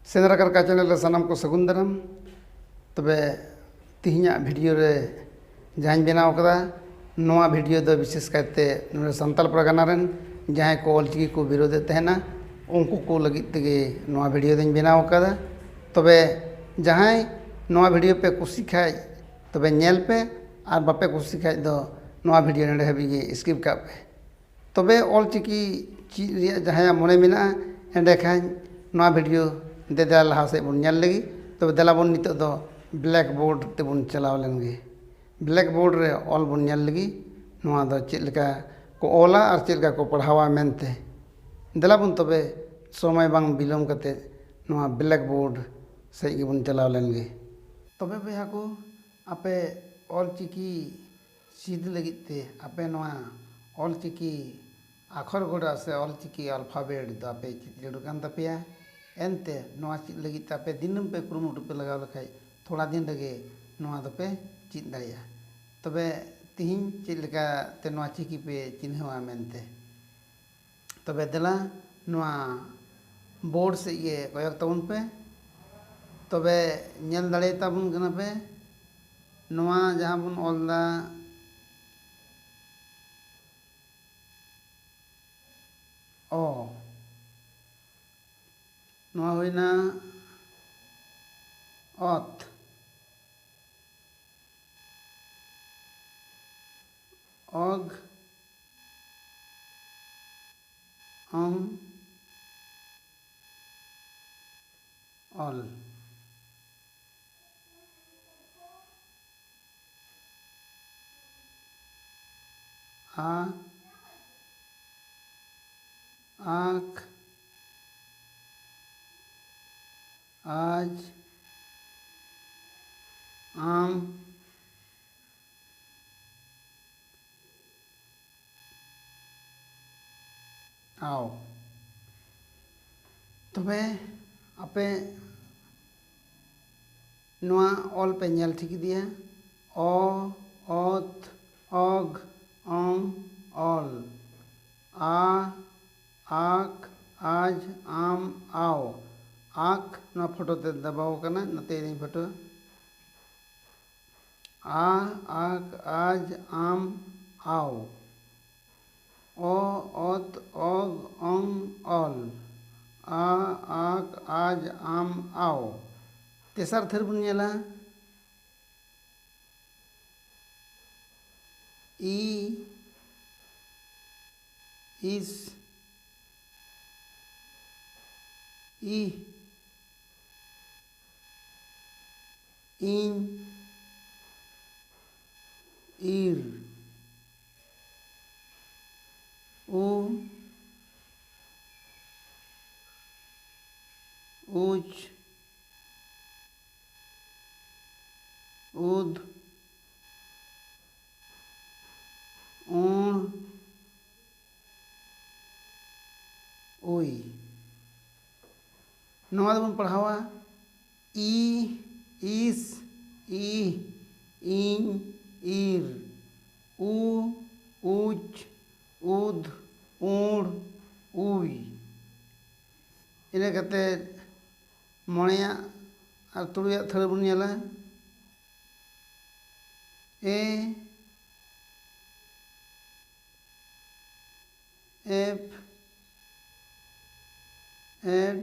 ᱥᱮᱸᱫᱽᱨᱟ ᱠᱟᱨᱠᱟ ᱪᱮᱱᱮᱞ ᱨᱮ ᱥᱟᱱᱟᱢ ᱠᱚ ᱥᱟᱹᱜᱩᱱ ᱫᱟᱨᱟᱢ ᱛᱚᱵᱮ ᱛᱮᱦᱮᱧᱟᱜ ᱵᱷᱤᱰᱭᱳ ᱨᱮ ᱡᱟᱦᱟᱸᱧ ᱵᱮᱱᱟᱣ ᱠᱟᱫᱟ ᱱᱚᱣᱟ ᱵᱷᱤᱰᱭᱳ ᱫᱚ ᱵᱤᱥᱮᱥ ᱠᱟᱭᱛᱮ ᱱᱚᱰᱮ ᱥᱟᱱᱛᱟᱲ ᱯᱟᱨᱜᱟᱱᱟ ᱨᱮᱱ ᱡᱟᱦᱟᱸᱭ ᱠᱚ ᱚᱞ ᱪᱤᱠᱤ ᱠᱚ ᱵᱤᱨᱳᱫᱮᱫ ᱛᱟᱦᱮᱱᱟ ᱩᱱᱠᱩ ᱠᱚ ᱞᱟᱹᱜᱤᱫ ᱛᱮᱜᱮ ᱱᱚᱣᱟ ᱵᱷᱤᱰᱭᱳ ᱫᱚᱧ ᱵᱮᱱᱟᱣ ᱠᱟᱫᱟ ᱛᱚᱵᱮ ᱡᱟᱦᱟᱸᱭ ᱱᱚᱣᱟ ᱵᱷᱤᱰᱭᱳ ᱯᱮ ᱠᱩᱥᱤ ᱠᱷᱟᱡ ᱛᱚᱵᱮ ᱧᱮᱞ ᱯᱮ ᱟᱨ ᱵᱟᱯᱮ ᱠᱩᱥᱤ ᱠᱷᱟᱡ ᱫᱚ ᱱᱚᱣᱟ ᱵᱷᱤᱰᱭᱳ ᱱᱚᱰᱮ ᱦᱟᱹᱵᱤᱡ ᱜᱮ ᱤᱥᱠᱤᱯ ᱠᱟᱜ ᱯᱮ ᱛᱚᱵᱮ ᱚᱞ ᱪᱤᱠᱤ ᱪᱮᱫ ᱨᱮᱭᱟᱜ ᱡᱟᱦᱟᱸᱭᱟᱜ ᱢᱚᱱᱮ ᱢᱮᱱᱟᱜᱼᱟ ᱮᱸᱰᱮ ᱠᱷᱟᱱ ᱱᱚᱣᱟ ᱵᱷᱤᱰᱭᱳ ᱫᱮᱞᱟ ᱞᱟᱦᱟ ᱥᱮᱫ ᱵᱚᱱ ᱧᱮᱞ ᱞᱮᱜᱮ ᱛᱚᱵᱮ ᱫᱮᱞᱟ ᱵᱚᱱ ᱱᱤᱛᱚᱜ ᱫᱚ ᱵᱞᱮᱠ ᱵᱳᱨᱰ ᱛᱮᱵᱚᱱ ᱪᱟᱞᱟᱣ ᱞᱮᱱ ᱜᱮ ᱵᱞᱮᱠ ᱵᱳᱨᱰ ᱨᱮ ᱚᱞ ᱵᱚᱱ ᱧᱮᱞ ᱞᱮᱜᱮ ᱱᱚᱣᱟ ᱫᱚ ᱪᱮᱫ ᱞᱮᱠᱟ ᱠᱚ ᱚᱞᱟ ᱟᱨ ᱪᱮᱫ ᱞᱮᱠᱟ ᱠᱚ ᱯᱟᱲᱦᱟᱣᱟ ᱢᱮᱱᱛᱮ ᱫᱮᱞᱟ ᱵᱚᱱ ᱛᱚᱵᱮ ᱥᱚᱢᱚᱭ ᱵᱟᱝ ᱵᱤᱞᱚᱢ ᱠᱟᱛᱮ ᱱᱚᱣᱟ ᱵᱞᱮᱠ ᱵᱳᱨᱰ ᱥᱮᱫ ᱜᱮᱵᱚᱱ ᱪᱟᱞᱟᱣ ᱞᱮᱱ ᱜᱮ ᱛᱚᱵᱮ ᱵᱚᱭᱦᱟ ᱠᱚ ᱟᱯᱮ ᱚᱞ ᱪᱤᱠᱤ ᱪᱤᱫ ᱞᱟᱹᱜᱤᱫ ᱛᱮ ᱟᱯᱮ ᱱᱚᱣᱟ ᱚᱞ ᱪᱤᱠᱤ ᱟᱠᱷᱚᱨ ᱜᱚᱰᱟ ᱥᱮ ᱚᱞ ᱪᱤᱠᱤ ᱟᱞᱯᱷᱟᱵᱮᱴ ᱫᱚ ᱟᱯᱮ ᱪᱤᱫ ᱡᱟᱹᱨᱩᱲ ᱠᱟᱱ ᱛᱟᱯᱮᱭᱟ ᱮᱱᱛᱮ ᱱᱚᱣᱟ ᱪᱤᱫ ᱞᱟᱹᱜᱤᱫ ᱛᱮ ᱟᱯᱮ ᱫᱤᱱᱟᱹᱢ ᱯᱮ ᱠᱩᱨᱩᱢᱩᱴᱩ ᱯᱮ ᱞᱟᱜᱟᱣ ᱞᱮᱠᱷᱟᱡ ᱛᱷᱚᱲᱟ ᱫᱤᱱ ᱨᱮᱜᱮ ᱱᱚᱣᱟ ᱫᱚᱯᱮ ᱪᱤᱫ ᱫᱟᱲᱮᱭᱟᱜᱼᱟ ᱛᱚᱵᱮ ᱛᱤᱦᱤᱧ ᱪᱮᱫ ᱞᱮᱠᱟ ᱛᱮ ᱱᱚᱣᱟ ᱪᱤᱠᱤ ᱯᱮ ᱪᱤᱱᱦᱟᱹᱣᱟ ᱢᱮᱱᱛᱮ ᱛᱚᱵᱮ ᱫᱮᱞᱟ ᱱᱚᱣᱟ ᱵᱳᱨᱰ ᱥᱮᱫ ᱜᱮ ᱠᱚᱭᱚᱜᱽ ᱛᱟᱵᱚᱱ ᱯᱮ ᱛᱚᱵᱮ ᱧᱮᱞ ᱫᱟᱲᱮ ᱟᱛᱟᱵᱚᱱ ᱠᱟᱱᱟ ᱯᱮ ᱱᱚᱣᱟ ᱡᱟᱦᱟᱸ ᱵᱚᱱ ᱚᱞ ᱮᱫᱟ ᱚ ᱱᱚᱣᱟ ᱦᱩᱭᱱᱟ ᱚᱛ ᱚᱜᱽ ᱟᱢ ᱚᱞ ᱟᱸᱠ ᱟᱡ ᱟᱢ ᱴᱷᱟᱶ᱾ ᱛᱚᱵᱮ ᱟᱯᱮ ᱱᱚᱶᱟ ᱚᱞ ᱯᱮ ᱧᱮᱞ ᱴᱷᱤᱠ ᱤᱫᱤᱭᱟ ᱚ, ᱚᱛ, ᱚᱜᱽ, ᱚᱝ, ᱚᱞ, ᱟ, ᱟᱠ, ᱟᱡᱽ, ᱟᱢ, ᱟᱣ, ᱟᱠ ᱱᱚᱶᱟ ᱯᱷᱚᱴᱚ ᱛᱮ ᱫᱟᱵᱟᱣ ᱟᱠᱟᱱᱟ ᱱᱚᱛᱮ ᱤᱫᱤᱧ ᱯᱷᱚᱴᱚ᱾ ᱟ ᱟᱠ ᱟᱡ ᱟᱢ ᱟᱣ ᱚ ᱚᱛ ᱚᱜ ᱚᱝ ᱚᱞ ᱟ ᱟᱠ ᱟᱡ ᱟᱢ ᱟᱣ ᱛᱮᱥᱟᱨ ᱛᱷᱟᱹᱨᱤ ᱵᱚᱱ ᱧᱮᱞᱟ ᱤ ᱤᱥ ᱤᱦ ᱤᱧ ᱤᱨ ᱩᱢ ᱩᱡᱽ ᱩᱫᱽ ᱩᱱ ᱩᱭ ᱱᱚᱣᱟ ᱫᱚᱵᱚᱱ ᱯᱟᱲᱦᱟᱣᱟ ᱤᱥ ᱤ ᱤᱧ ᱤᱨ ᱩ ᱩᱪ ᱩᱫᱽ ᱩᱬ ᱩᱭ ᱤᱱᱟᱹ ᱠᱟᱛᱮᱫ ᱢᱚᱬᱮᱭᱟᱜ ᱟᱨ ᱛᱩᱨᱩᱭᱟᱜ ᱛᱷᱟᱹᱨᱤ ᱵᱚᱱ ᱧᱮᱞᱟ ᱮ ᱮᱯᱷ ᱮᱰ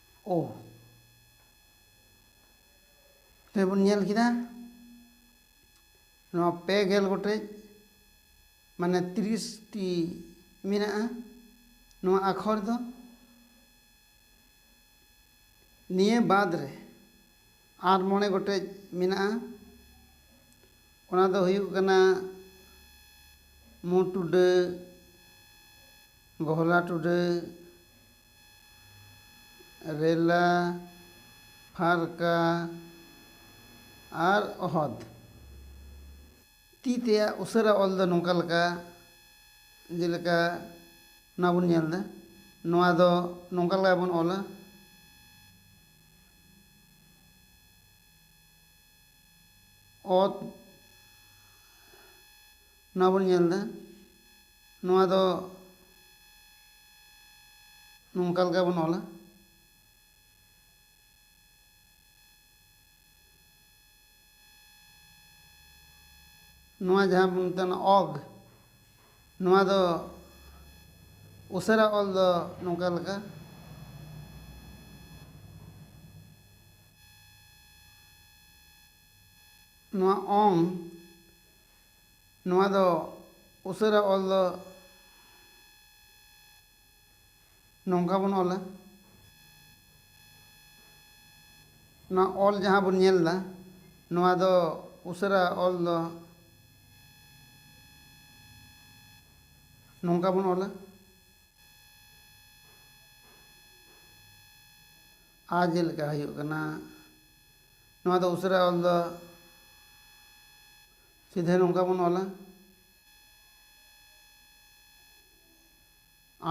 ᱳ ᱛᱚᱵᱮ ᱵᱚᱱ ᱧᱮᱞ ᱠᱮᱫᱟ ᱱᱚᱣᱟ ᱯᱮ ᱜᱮᱞ ᱜᱚᱴᱮᱡ ᱢᱟᱱᱮ ᱛᱤᱨᱤᱥᱴᱤ ᱢᱮᱱᱟᱜᱼᱟ ᱱᱚᱣᱟ ᱟᱠᱷᱚᱨ ᱫᱚ ᱱᱤᱭᱟᱹ ᱵᱟᱫᱽ ᱨᱮ ᱟᱨ ᱢᱚᱬᱮ ᱜᱚᱴᱮᱡ ᱢᱮᱱᱟᱜᱼᱟ ᱚᱱᱟ ᱫᱚ ᱦᱩᱭᱩᱜ ᱠᱟᱱᱟ ᱢᱩ ᱴᱩᱰᱟᱹᱜ ᱜᱚᱦᱚᱞᱟ ᱴᱩᱰᱟᱹᱜ ᱨᱮᱞᱟ ᱯᱷᱟᱨᱠᱟ ᱟᱨ ᱚᱦᱚᱫᱽ ᱛᱤ ᱛᱮᱭᱟᱜ ᱩᱥᱟᱹᱨᱟ ᱚᱞ ᱫᱚ ᱱᱚᱝᱠᱟ ᱞᱮᱠᱟ ᱡᱮᱞᱮᱠᱟ ᱱᱚᱣᱟ ᱵᱚᱱ ᱧᱮᱞ ᱮᱫᱟ ᱱᱚᱣᱟ ᱫᱚ ᱱᱚᱝᱠᱟ ᱞᱮᱠᱟ ᱵᱚᱱ ᱚᱞᱟ ᱚᱛ ᱱᱚᱣᱟ ᱵᱚᱱ ᱧᱮᱞ ᱮᱫᱟ ᱱᱚᱣᱟ ᱫᱚ ᱱᱚᱝᱠᱟ ᱞᱮᱠᱟ ᱵᱚᱱ ᱚᱞᱟ ᱱᱚᱣᱟ ᱡᱟᱦᱟᱸ ᱵᱚᱱ ᱢᱮᱛᱟᱜ ᱠᱟᱱᱟ ᱚᱜᱽ ᱱᱚᱣᱟ ᱫᱚ ᱩᱥᱟᱹᱨᱟ ᱚᱞ ᱫᱚ ᱱᱚᱝᱠᱟ ᱞᱮᱠᱟ ᱱᱚᱣᱟ ᱚᱝ ᱱᱚᱣᱟ ᱫᱚ ᱩᱥᱟᱹᱨᱟ ᱚᱞ ᱫᱚ ᱱᱚᱝᱠᱟ ᱵᱚᱱ ᱚᱞᱟ ᱱᱚᱣᱟ ᱚᱞ ᱡᱟᱦᱟᱸ ᱵᱚᱱ ᱧᱮᱞ ᱮᱫᱟ ᱱᱚᱣᱟ ᱫᱚ ᱩᱥᱟᱹᱨᱟ ᱚᱞ ᱫᱚ ᱱᱚᱝᱠᱟ ᱵᱚᱱ ᱚᱞᱟ ᱟ ᱡᱮᱞᱮᱠᱟ ᱦᱩᱭᱩᱜ ᱠᱟᱱᱟ ᱱᱚᱣᱟ ᱫᱚ ᱩᱥᱟᱹᱨᱟ ᱚᱞ ᱫᱚ ᱥᱤᱫᱷᱟᱹ ᱱᱚᱝᱠᱟ ᱵᱚᱱ ᱚᱞᱟ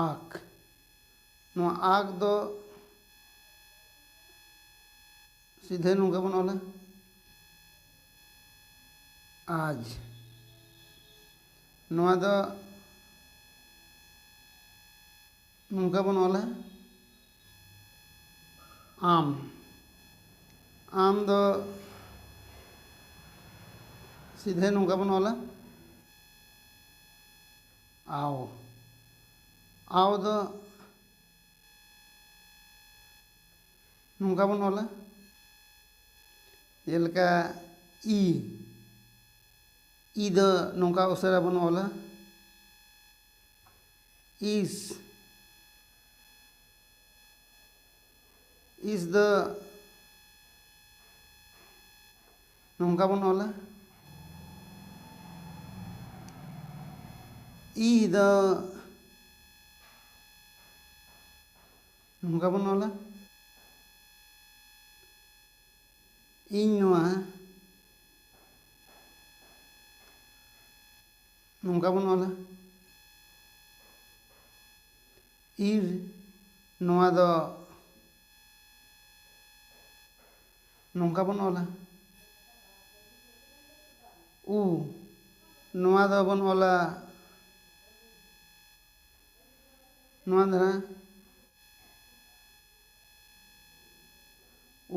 ᱟᱠ ᱱᱚᱣᱟ ᱟᱠ ᱫᱚ ᱥᱤᱫᱷᱟᱹ ᱱᱚᱝᱠᱟ ᱵᱚᱱ ᱚᱞᱟ ᱟᱡ ᱱᱚᱣᱟ ᱫᱚ ᱱᱚᱝᱠᱟ ᱵᱚᱱ ᱚᱞᱟ ᱟᱢ ᱟᱢ ᱫᱚ ᱥᱤᱫᱷᱟᱹ ᱱᱚᱝᱠᱟ ᱵᱚᱱ ᱚᱞᱟ ᱟᱣ ᱟᱣ ᱫᱚ ᱱᱚᱝᱠᱟ ᱵᱚᱱ ᱚᱞᱟ ᱡᱮᱞᱮᱠᱟ ᱤ ᱤ ᱫᱚ ᱱᱚᱝᱠᱟ ᱩᱥᱟᱹᱨᱟ ᱵᱚᱱ ᱚᱞᱟ ᱤᱥ ᱤᱥ ᱫᱚ ᱱᱚᱝᱠᱟ ᱵᱚᱱ ᱚᱞᱟ ᱤ ᱫᱚ ᱱᱚᱝᱠᱟ ᱵᱚᱱ ᱚᱞᱟ ᱤᱧ ᱱᱚᱣᱟ ᱱᱚᱝᱠᱟ ᱵᱚᱱ ᱚᱞᱟ ᱤᱨ ᱱᱚᱣᱟ ᱫᱚ ᱱᱚᱝᱠᱟ ᱵᱚᱱ ᱚᱞᱟ ᱩ ᱱᱚᱣᱟ ᱫᱚᱵᱚᱱ ᱚᱞᱟ ᱱᱚᱣᱟ ᱫᱷᱟᱨᱟ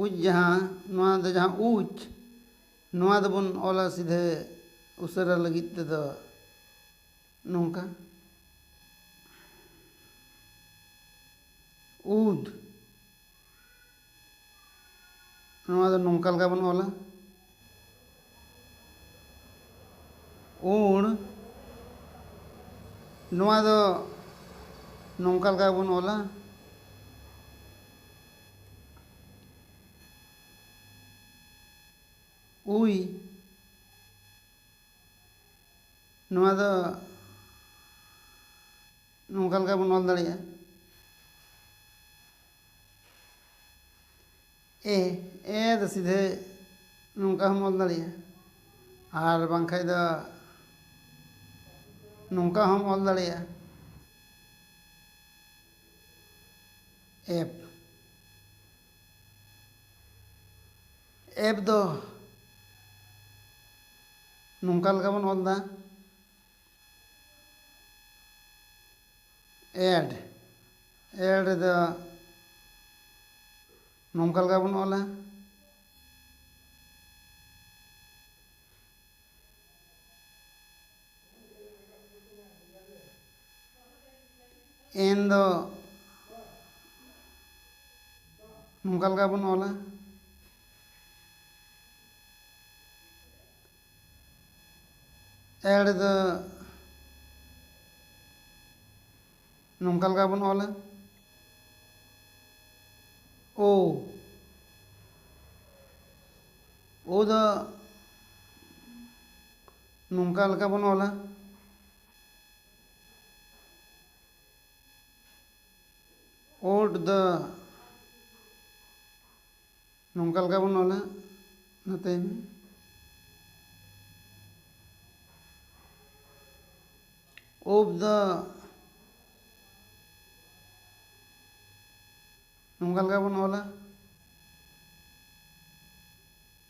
ᱩᱡ ᱡᱟᱦᱟᱸ ᱱᱚᱣᱟ ᱫᱚ ᱡᱟᱦᱟᱸ ᱩᱡ ᱱᱚᱣᱟ ᱫᱚᱵᱚᱱ ᱚᱞᱟ ᱥᱤᱫᱷᱟᱹ ᱩᱥᱟᱹᱨᱟ ᱞᱟᱹᱜᱤᱫ ᱛᱮᱫᱚ ᱱᱚᱝᱠᱟ ᱩᱫ ᱱᱚᱣᱟ ᱫᱚ ᱱᱚᱝᱠᱟ ᱞᱮᱠᱟ ᱵᱚᱱ ᱚᱞᱟ ᱩᱬ ᱱᱚᱣᱟ ᱫᱚ ᱱᱚᱝᱠᱟ ᱞᱮᱠᱟ ᱵᱚᱱ ᱚᱞᱟ ᱩᱭ ᱱᱚᱣᱟ ᱫᱚ ᱱᱚᱝᱠᱟ ᱞᱮᱠᱟ ᱵᱚᱱ ᱚᱞ ᱫᱟᱲᱮᱭᱟᱜᱼᱟ ᱮ ᱮ ᱫᱚ ᱥᱤᱫᱷᱟᱹ ᱱᱚᱝᱠᱟ ᱦᱚᱢ ᱚᱞ ᱫᱟᱲᱮᱭᱟᱜᱼᱟ ᱟᱨ ᱵᱟᱝᱠᱷᱟᱱ ᱫᱚ ᱱᱚᱝᱠᱟ ᱦᱚᱢ ᱚᱞ ᱫᱟᱲᱮᱭᱟᱜᱼᱟ ᱮᱯ ᱮᱯ ᱫᱚ ᱱᱚᱝᱠᱟ ᱞᱮᱠᱟ ᱵᱚᱱ ᱚᱞ ᱮᱫᱟ ᱮᱰ ᱮᱰ ᱨᱮᱫᱚ ᱱᱚᱝᱠᱟ ᱞᱮᱠᱟ ᱵᱚᱱ ᱚᱞᱟ ᱮᱱ ᱫᱚ ᱱᱚᱝᱠᱟ ᱞᱮᱠᱟ ᱵᱚᱱ ᱚᱞᱟ ᱮᱲ ᱫᱚ ᱱᱚᱝᱠᱟ ᱞᱮᱠᱟ ᱵᱚᱱ ᱚᱞᱟ ᱳ ᱳ ᱫᱚ ᱱᱚᱝᱠᱟ ᱞᱮᱠᱟ ᱵᱚᱱ ᱚᱞᱟ ᱳᱰ ᱫᱟ ᱱᱚᱝᱠᱟ ᱞᱮᱠᱟ ᱵᱚᱱ ᱚᱞᱟ ᱱᱚᱛᱮ ᱳᱵ ᱫᱟ ᱱᱚᱝᱠᱟ ᱞᱮᱠᱟ ᱵᱚᱱ ᱚᱞᱟ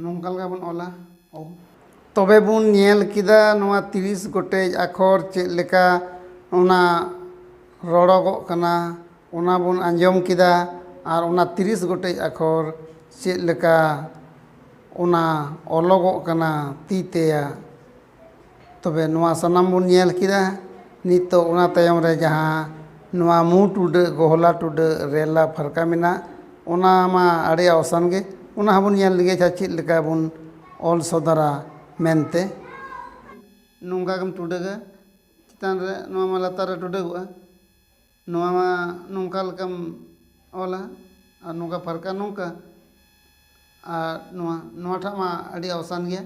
ᱱᱚᱝᱠᱟ ᱞᱮᱠᱟ ᱵᱚᱱ ᱚᱞᱟ ᱚ᱾ ᱛᱚᱵᱮ ᱵᱚᱱ ᱧᱮᱞ ᱠᱮᱫᱟ ᱱᱚᱣᱟ ᱛᱤᱨᱤᱥ ᱜᱚᱴᱮᱡ ᱟᱠᱷᱚᱨ ᱪᱮᱫ ᱞᱮᱠᱟ ᱚᱱᱟ ᱨᱚᱲᱚᱜᱚᱜ ᱠᱟᱱᱟ ᱚᱱᱟ ᱵᱚᱱ ᱟᱸᱡᱚᱢ ᱠᱮᱫᱟ ᱟᱨ ᱚᱱᱟ ᱛᱤᱨᱤᱥ ᱜᱚᱴᱮᱡ ᱟᱠᱷᱚᱨ ᱪᱮᱫ ᱞᱮᱠᱟ ᱚᱱᱟ ᱚᱞᱚᱜᱚᱜ ᱠᱟᱱᱟ ᱛᱤ ᱛᱮᱭᱟᱜ ᱛᱚᱵᱮ ᱱᱚᱣᱟ ᱥᱟᱱᱟᱢ ᱵᱚᱱ ᱧᱮᱞ ᱠᱮᱫᱟ ᱱᱤᱛᱚᱜ ᱚᱱᱟ ᱛᱟᱭᱚᱢ ᱨᱮ ᱡᱟᱦᱟᱸ ᱱᱚᱣᱟ ᱢᱩ ᱴᱩᱰᱟᱹᱜ ᱜᱚᱦᱚᱞᱟ ᱴᱩᱰᱟᱹᱜ ᱨᱮᱞᱟ ᱯᱷᱟᱨᱠᱟ ᱢᱮᱱᱟᱜ ᱚᱱᱟ ᱢᱟ ᱟᱹᱰᱤ ᱟᱣᱥᱟᱱ ᱜᱮ ᱚᱱᱟ ᱦᱚᱸᱵᱚᱱ ᱧᱮᱞ ᱞᱮᱜᱮ ᱟᱪᱪᱷᱟ ᱪᱮᱫ ᱞᱮᱠᱟ ᱵᱚᱱ ᱚᱞ ᱥᱚᱫᱚᱨᱟ ᱢᱮᱱᱛᱮ ᱱᱚᱝᱠᱟ ᱜᱮᱢ ᱴᱩᱰᱟᱹᱜᱟ ᱪᱮᱛᱟᱱ ᱨᱮ ᱱᱚᱣᱟ ᱢᱟ ᱞᱟᱛᱟᱨ ᱨᱮ ᱴᱩᱰᱟᱹᱜᱚᱜᱼᱟ ᱱᱚᱣᱟ ᱢᱟ ᱱᱚᱝᱠᱟ ᱞᱮᱠᱟᱢ ᱚᱞᱟ ᱟᱨ ᱱᱚᱝᱠᱟ ᱯᱷᱟᱨᱠᱟ ᱱᱚᱝᱠᱟ ᱟᱨ ᱱᱚᱣᱟ ᱱᱚᱣᱟ ᱴᱟᱜ ᱢᱟ ᱟᱹᱰᱤ ᱟᱣᱥᱟᱱ ᱜᱮᱭᱟ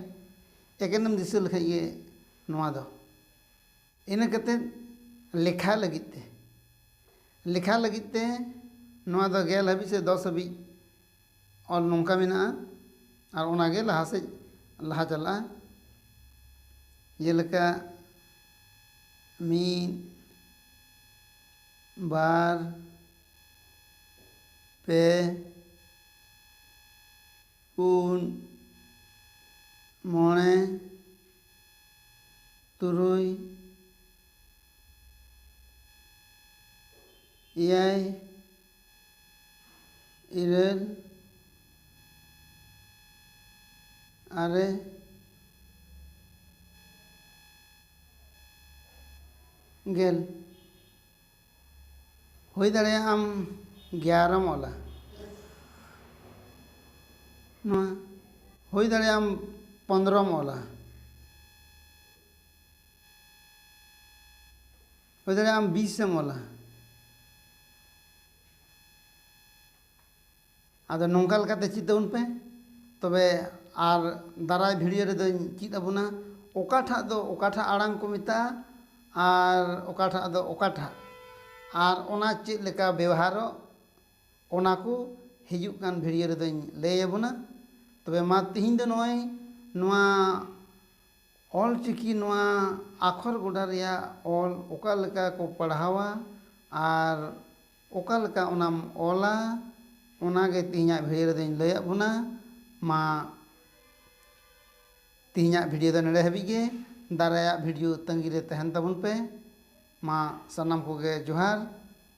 ᱮᱠᱮᱱ ᱮᱢ ᱫᱤᱥᱟᱹ ᱞᱮᱠᱷᱟᱱ ᱜᱮ ᱱᱚᱣᱟ ᱫᱚ ᱤᱱᱟᱹ ᱠᱟᱛᱮᱫ ᱞᱮᱠᱷᱟ ᱞᱟᱹᱜᱤᱫ ᱛᱮ ᱞᱮᱠᱷᱟ ᱞᱟᱹᱜᱤᱫ ᱛᱮ ᱱᱚᱣᱟ ᱫᱚ ᱜᱮᱞ ᱦᱟᱹᱵᱤᱡ ᱥᱮ ᱫᱚᱥ ᱦᱟᱹᱵᱤᱡ ᱚᱞ ᱱᱚᱝᱠᱟ ᱢᱮᱱᱟᱜᱼᱟ ᱟᱨ ᱚᱱᱟ ᱜᱮ ᱞᱟᱦᱟ ᱥᱮᱫ ᱞᱟᱦᱟ ᱪᱟᱞᱟᱜᱼᱟ ᱡᱮᱞᱮᱠᱟ ᱢᱤᱫ ᱵᱟᱨ ᱯᱮ ᱯᱩᱱ ᱢᱚᱬᱮ ᱛᱩᱨᱩᱭ ᱮᱭᱟᱭ ᱤᱨᱟᱹᱞ ᱟᱨᱮ ᱜᱮᱞ ᱦᱩᱭ ᱫᱟᱲᱮᱭᱟᱜᱼᱟ ᱟᱢ ᱜᱮᱭᱟᱨᱮᱢ ᱚᱞᱟ ᱱᱚᱣᱟ ᱦᱩᱭ ᱫᱟᱲᱮᱭᱟᱜᱼᱟ ᱟᱢ ᱯᱚᱸᱫᱽᱨᱚᱢ ᱚᱞᱟ ᱦᱩᱭ ᱫᱟᱲᱮᱭᱟᱜᱼᱟ ᱟᱢ ᱵᱤᱥᱮᱢ ᱚᱞᱟ ᱟᱫᱚ ᱱᱚᱝᱠᱟ ᱞᱮᱠᱟᱛᱮ ᱪᱮᱫ ᱛᱟᱵᱚᱱ ᱯᱮ ᱛᱚᱵᱮ ᱟᱨ ᱫᱟᱨᱟᱭ ᱵᱷᱤᱰᱤᱭᱳ ᱨᱮᱫᱚᱧ ᱪᱮᱫ ᱟᱵᱚᱱᱟ ᱚᱠᱟᱴᱟᱜ ᱫᱚ ᱚᱠᱟᱴᱟᱜ ᱟᱲᱟᱝ ᱠᱚ ᱢᱮᱛᱟᱜᱼᱟ ᱟᱨ ᱚᱠᱟᱴᱟᱜ ᱫᱚ ᱚᱠᱟᱴᱟᱜ ᱟᱨ ᱚᱱᱟ ᱪᱮᱫ ᱞᱮᱠᱟ ᱵᱮᱣᱦᱟᱨᱚᱜ ᱚᱱᱟ ᱠᱚ ᱦᱤᱡᱩᱜ ᱠᱟᱱ ᱵᱷᱤᱰᱤᱭᱳ ᱨᱮᱫᱚᱧ ᱞᱟᱹᱭ ᱟᱵᱚᱱᱟ ᱛᱚᱵᱮ ᱢᱟ ᱛᱮᱦᱮᱧ ᱫᱚ ᱱᱚᱜᱼᱚᱭ ᱱᱚᱣᱟ ᱚᱞ ᱪᱤᱠᱤ ᱱᱚᱣᱟ ᱟᱠᱷᱚᱨ ᱜᱚᱰᱟ ᱨᱮᱭᱟᱜ ᱚᱞ ᱚᱠᱟ ᱞᱮᱠᱟ ᱠᱚ ᱯᱟᱲᱦᱟᱣᱟ ᱟᱨ ᱚᱠᱟ ᱞᱮᱠᱟ ᱚᱱᱟᱢ ᱚᱞᱟ ᱚᱱᱟ ᱜᱮ ᱛᱮᱦᱮᱧᱟᱜ ᱵᱷᱤᱰᱤᱭᱳ ᱨᱮᱫᱚᱧ ᱞᱟᱹᱭᱟᱫ ᱵᱚᱱᱟ ᱢᱟ ᱛᱮᱦᱮᱧᱟᱜ ᱵᱷᱤᱰᱤᱭᱳ ᱫᱚ ᱱᱚᱰᱮ ᱦᱟᱹᱵᱤᱡ ᱜᱮ ᱫᱟᱨᱟᱭᱟᱜ ᱵᱷᱤᱰᱤᱭᱳ ᱛᱟᱺᱜᱤ ᱨᱮ ᱛᱟᱦᱮᱱ ᱛᱟᱵᱚᱱ ᱯᱮ ᱢᱟ ᱥᱟᱱᱟᱢ ᱠᱚᱜᱮ ᱡᱚᱦᱟᱨ